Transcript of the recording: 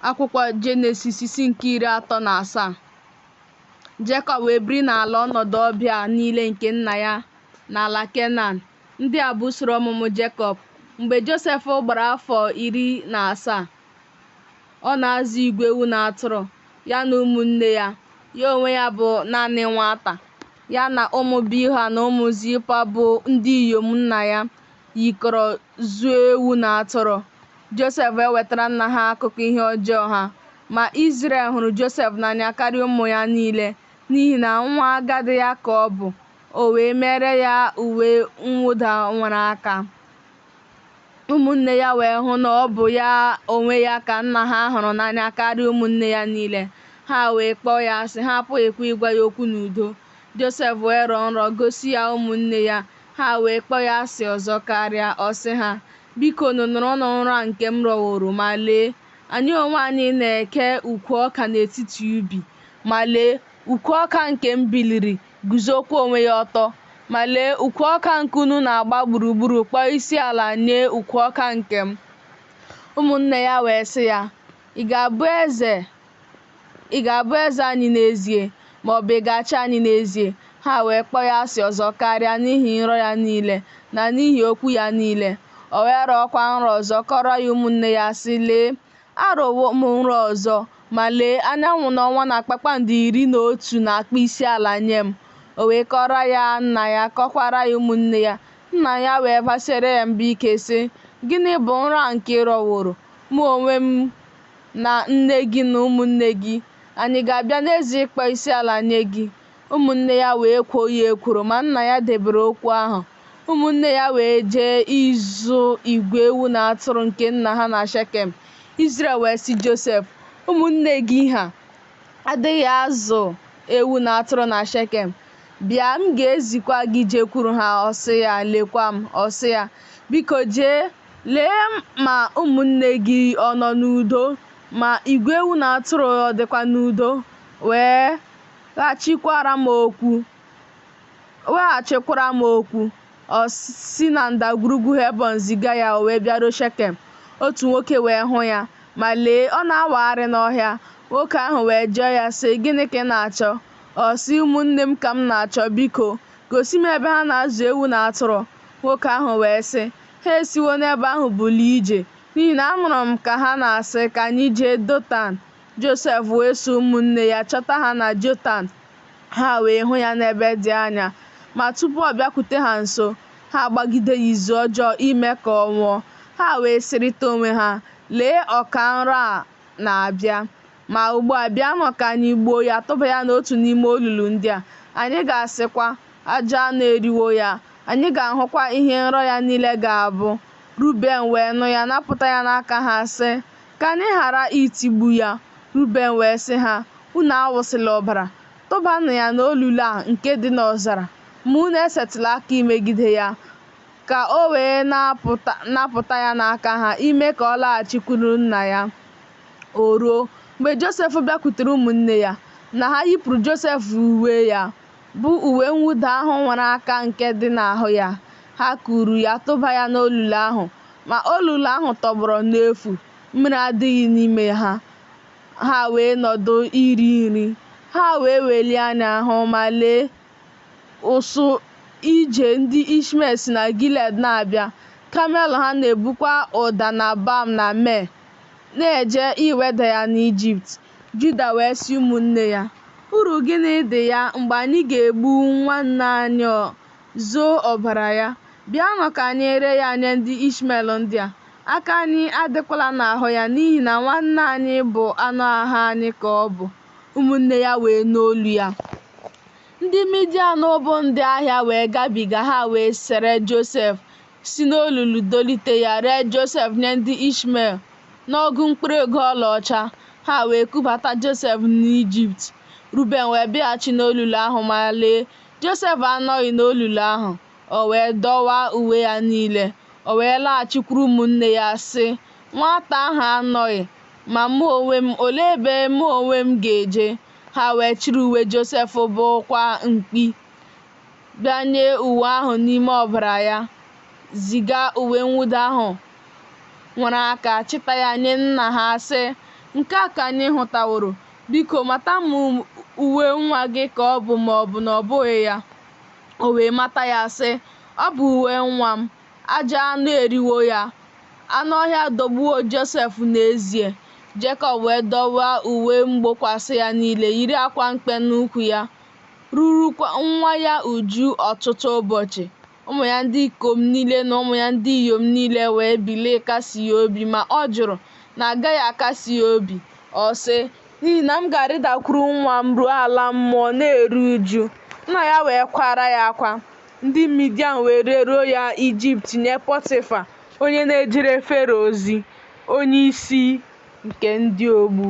Akwụkwọ Jenesis isi nke iri atọ na asaa Jekọb wee biri n'ala ọnọdụ ọbịa niile nke nna ya n'ala Kenan. Ndị a bụ usoro ọmụmụ Jekọb. Mgbe Josef gbara afọ iri na asaa, ọ na-azụ igwe ewu na atụrụ, ya na ụmụnne ya. Ya onwe ya bụ naanị nwata, ya na ụmụ Bilha na ụmụ Zilpa bụ ndị inyom nna ya. yikọrọ zụọ ewu na atụrụ. Josef ewetara nna ha akụkọ ihe ọjọọ ha. Ma Izrel hụrụ Josef n'anya karịa ụmụ ya niile, n'ihi na nwa agadi ya ka ọ bụ, o wee meere ya uwe mwụda nwere aka. Ụmụnne ya wee hụ na ọ bụ ya onwe ya ka nna ha hụrụ n'anya karịa ụmụnne ya niile. Ha wee kpọọ ya asị, ha apụghịkwa ịgwa ya okwu n'udo. Josef wee rọọ nrọ gosi ya ụmụnne ya, ha wee kpọọ ya asị ọzọ karịa. Ọ sị ha, Bikonu nụrụnụ nrọ a nke m rọworo, ma lee, anyị onwe anyị na-eke ukwu ọka n'etiti ubi. Ma lee, ukwu ọka nke m biliri, guzokwa onwe ya ọtọ. Ma lee, ukwu ọka nke unu na-agba gburugburu kpọọ isi ala nye ukwu ọka nke m. Ụmụnne ya wee sị ya, Ị ga-abụ eze? Ị ga-abụ eze anyị n'ezie, ma ọ bụ ị ga-achị anyị n'ezie? Ha wee kpọọ ya asị ọzọ karịa n'ihi nrọ ya niile, na n'ihi okwu ya niile. O wee rọọkwa nrọ ọzọ, kọọrọ ya ụmụnne ya, sị, Lee, arọwo m nrọ ọzọ, ma lee, anyanwụ na ọnwa na kpakpando iri na otu na-akpọ isiala nye m. O wee kọọrọ ya nna ya, kọkwaara ya ụmụnne ya. Nna ya wee basiere ya mba ike, sị, Gịnị bụ nrọ a nke ị rọworo? Mụ onwe m, na nne gị na ụmụnne gị, anyị ga-abịa n'ezie ịkpọ isiala nye gị? Ụmụnne ya wee kwoo ya ekworo, ma nna ya debere okwu ahụ. Ụmụnne ya wee jee ịzụ igwe ewu na atụrụ nke nna ha na Shekem. Izrel wee sị Josef, Ụmụnne gị ha adịghị azụ ewu na atụrụ na Shekem? Bịa, m ga-ezikwa gị jekwuru ha. Ọ sị ya, Lekwa m. Ọ sị ya, Biko jee. Lee ma ụmụnne gị ọ nọ n'udo, ma igwe ewu na atụrụ ọ dịkwa n'udo, wee ghachikwaara m okwu, weghachikwara m okwu, ọ si na ndagwurugwu Hebọn ziga ya, o wee bịaruo Shekem. Otu nwoke wee hụ ya, ma lee, ọ na-awagharị n'ọhịa. Nwoke ahụ wee jụọ ya, sị, Gịnị ka ị na-achọ? Ọ sị, Ụmụnne m ka m na-achọ, biko, gosi m ebe ha na-azụ ewu na atụrụ. Nwoke ahụ wee sị, Ha esiwo n'ebe ahụ bulie ije, n'ihi na anụrụ m ka ha na-asị, Ka anyị jee Dotan. Josef wee so ụmụnne ya chọta ha na Dotan, ha wee hụ ya n'ebe dị anya. Ma tupu ọ bịakwute ha nso, ha agbagide ya izu ọjọọ ime ka ọ nwụọ. Ha wee sịrịta onwe ha, Lee, ọka nrọ a na-abịa. Ma ugbu a, bịanụ ka anyị gbuo ya, tụba ya n'otu n'ime olulu ndị a. Anyị ga-asịkwa, Ajọ anụ eriwo ya. Anyị ga-ahụkwa ihe nrọ ya niile ga-abụ. Ruben wee nụ ya, napụta ya n'aka ha, sị, Ka anyị ghara itigbu ya. Ruben wee sị ha, Unu awụsịla ọbara. Tụbanụ ya n'olulu a nke dị n'ọzara, ma unu esetịla aka imegide ya, ka o wee napụta ya n'aka ha, ime ka ọ laghachikwuru nna ya. O ruo, mgbe Josef bịakwutere ụmụnne ya, na ha yipụrụ Josef uwe ya, bụ uwe mwụda ahụ nworo aka nke dị n'ahụ ya, ha kuru ya tụba ya n'olulu ahụ. Ma olulu ahụ tọgbọrọ n'efu, mmiri adịghị n'ime ha. Ha wee nọdụ iri nri. Ha wee welie anya hụ, ma lee, ụsụ ije ndị Ishmel si na Gilead na-abịa, kamel ha na-ebukwa ụda na balm na myrrh. na-eje iweda ya n'Ijipt. Juda wee sị ụmụnne ya, Uru gịnị dị ya mgbe anyị ga-egbu nwanne anyị zoo ọbara ya? Bịanụ ka anyị ree ya nye ndị Ishmel ndị a. Aka anyị adịkwala n'ahụ ya n'ihi na nwanne anyị bụ anụ ahụ anyị ka ọ bụ. Ụmụnne ya wee nụ olu ya. Ndị Midian bụ ndị ahịa wee gabiga ha wee sere Josef si n'olulu dolite ya ree Josef nye ndị Ishmel n'ọgụ mkpụrụ ego ọlaọcha, ha wee kubata Josef n'Ijipt. Ruben wee bịaghachi n'olulu ahụ, ma lee, Josef anọghị n'olulu ahụ. O wee dọwaa uwe ya niile. O wee laghachikwuru ụmụnne ya, sị, Nwata ahụ anọghị, ma mụ onwe m, olee ebe mụ onwe m ga-eje? Ha wee chịrị uwe Josef gbukwaa mkpi. bịanye uwe ahụ n'ime ọbara ya, ziga uwe mwụda ahụ nworo aka chịta ya nye nna ha, sị, Nke a ka anyị hụtaworo, biko, mata ma uwe nwa gị ka ọ bụ ma ọ bụ na ọ bụghị ya. O wee mata ya, sị, Ọ bụ uwe nwa m. Ajọ anụ eriwo ya. Anụ ọhịa adọgbuwo Josef n'ezie. Jekọb wee dọwaa uwe mgbokwasị ya niile, yiri akwa mkpe n'ukwu ya. rurukwa nwa ya uju ọtụtụ ụbọchị. Ụmụ ya ndị ikom niile na ụmụ ya ndị inyom niile wee bilie ịkasi ya obi, ma ọ jụrụ na a gaghị akasi ya obi. Ọ sị, N'ihi na m ga-arịdakwuru nwa m ruo ala mmụọ na-eru uju. Nna ya wee kwaara ya akwa. Ndị Midian wee reruo ya Ijipt nye Pọtịfa, onye na-ejere Fero ozi, onyeisi nke ndị ogbu.